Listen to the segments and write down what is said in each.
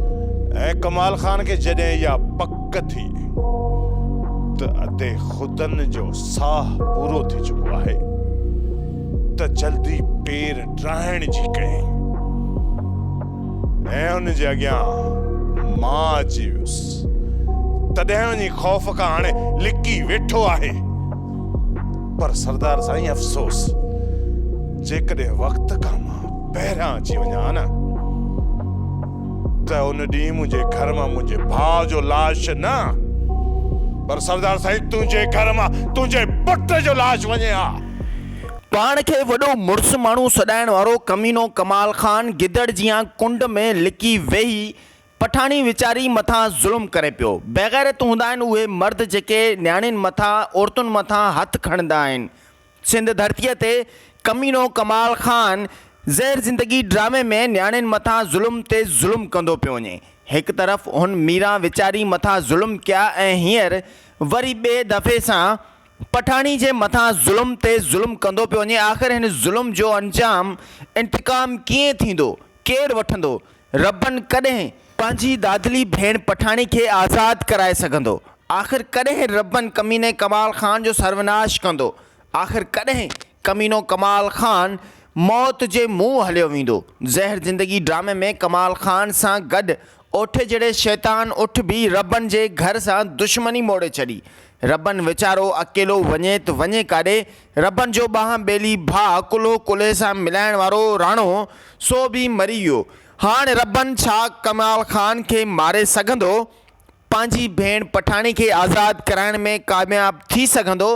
۽ ڪمال خان کي جڏهن اها پڪ ٿي ته ادي خدن جو ساهه پورو ٿي چڪو آهي ته جلدي پير ڊاهڻ جي ڪيائين ۽ ان جي اڳيان مان اچي ويس تڏهن وڃي خوف کان هاڻي لڪي ويٺو آهي پر سردار سائين افسوس جيڪڏهن وقت کان مان پهريان اچي وڃان ها نه ته ان ڏينهن منهنجي گهر مان منهنجي ڀاء جو لاش نه پر سردار سائين تنهنجي گهر مان تنهنجي پٽ جو لاش وڃي ها. پاڻ کي وڏو مڙس ماڻهو سڏائڻ وارو ڪمينو ڪمال خان گدڙ جيان ڪنڊ ۾ لڪي ويهي پٺاڻي ويچاري مٿان ظلم ڪري پيو. بيغيرت هوندا آهن اهي مرد جيڪي نياڻين مٿان عورتن مٿان هٿ کڻندا آهن سنڌ ڌرتيء تي ڪمينو ڪمال خان زهر زندگي ڊرامي ۾ نياڻين مٿان ظلم تي ظلم ڪندو پيو وڃي. هڪ طرف هن ميران ويچاري مٿان ظلم ڪيا ۽ هينئر وري ٻئي دفعي سان پٺاڻي جي مٿان ظلم تي ظلم ڪندو پيو وڃي. آخر هن ظلم جو انجام، انتقام، ڪيئن ٿيندو؟ ڪير وٺندو؟ ربن ڪڏهن پنهنجي دادلي ڀيڻ پٺاڻي کي آزاد ڪرائي سگهندو؟ آخر ڪڏهن ربن ڪميني ڪمال خان جو سروناش ڪندو؟ آخر ڪڏهن ڪمينو ڪمال خان موت جي منهن هليو ويندو؟ زهر زندگي ڊرامي ۾ ڪمال خان سان گڏ اوٺي جهڙي شيطان اٺ به ربن جي گهر سان دشمني موڙي ڇڏي. ربن ويچارو اڪيلو وڃي ته وڃي ڪاڏي؟ ربن جو ٻانهن ٻيلي ڀاء ڪلهو ڪلهي سان ملائڻ وارو راڻو سو به مري ويو. هاڻ ربن ڇا ڪمال خان کي ماري سگهندو؟ پنهنجي ڀيڻ پٺاڻي کي آزاد ڪرائڻ ۾ ڪامياب ٿي سگهندو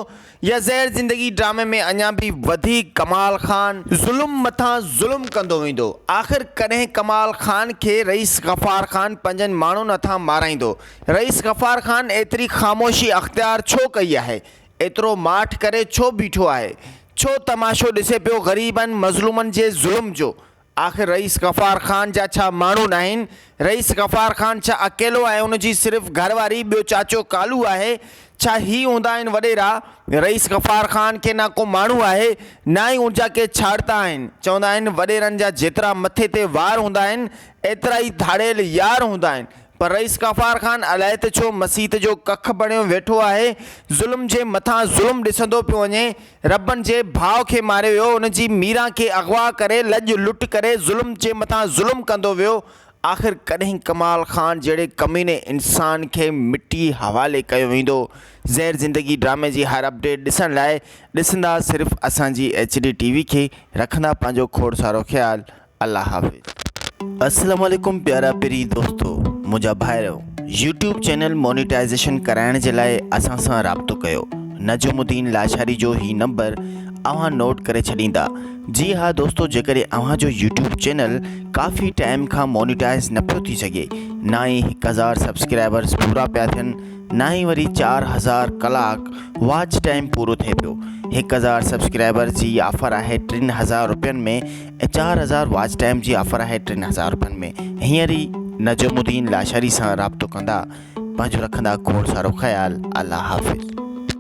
يا زهر زندگي ڊرامي ۾ اڃا به وڌيڪ ڪمال خان ظلم مٿان ظلم ڪندو ويندو؟ آخر ڪڏهن ڪمال خان کي رئيس غفار خان پنهنجن ماڻهن هٿان مارائيندو؟ رئيس غفار خان ايتري خاموشي اختيار ڇو ڪئي آهي؟ ايترو ماٺ ڪري ڇو بيٺو آهي؟ ڇو تماشو ڏسي پيو غريبن مظلومن جي ظلم جو؟ آخر رئيس غفار خان جا ڇا ماڻهو ناهن؟ رئيس غفار خان ڇا اڪيلو ۽ ان جي صرف گهر واري ٻيو چاچو ڪالو آهي؟ ڇا هي هوندا آهن وڏيرا؟ رئيس غفار خان کي نه ڪو ماڻهو آهي نه ئي ان جا ڪي ڇاڙتا آهن. چوندا آهن وڏيرن جا جيترا مٿي تي وار هوندا آهن ايترا ئي ڌاڙيل يار هوندا آهن. پر رئيس غفار خان الائي ته ڇو مسيت جو ڪک بڻيو ويٺو آهي، ظلم جي مٿان ظلم ڏسندو پيو وڃي، ربن جي ڀاء کي ماريو ويو، ان جي ميران کي اغوا ڪري لڄ لٽ ڪري ظلم جي مٿان ظلم ڪندو ويو، آخر ڪڏهن ڪمال خان جهڙي ڪميني انسان کي مٽي حوالي ڪيو ويندو، زهر زندگي ڊرامي جي هر اپڊيٽ ڏسڻ لاء ڏسندا صرف اسان جي ايڇ ڊي ٽي وي کي، رکندا پنهنجو کوڙ سارو خيال الله حافظ. اسلام عليڪم پيارا پرين دوستو منهنجا ڀائرو يوٽيوب چينل مونيٽائيزيشن ڪرائڻ جي لاء اسان سان رابطو ڪيو نجم الدين لاشاري جو هي نمبر اوهان نوٽ ڪري ڇڏيندا جي ها دوستو جيڪڏهن اوهان جو يوٽيوب چينل ڪافي ٽائيم کان مونيٽائيز نه پيو ٿي سگهي نه ئي هڪ هزار سبسڪرائبرز پورا پيا ٿين نه ئي وري چار هزار ڪلاڪ واچ ٽائيم پورو ٿئي پيو هڪ هزار سبسڪرائبرز جي آفر آهي ٽن هزار روپين ۾ ۽ چار هزار واچ ٽائيم جي آفر آهي ٽن هزار روپين ۾ هينئر ئي نجم الدين لاشاري سان رابطو ڪندا پنهنجو رکندا کوڙ سارو خيال الله حافظ.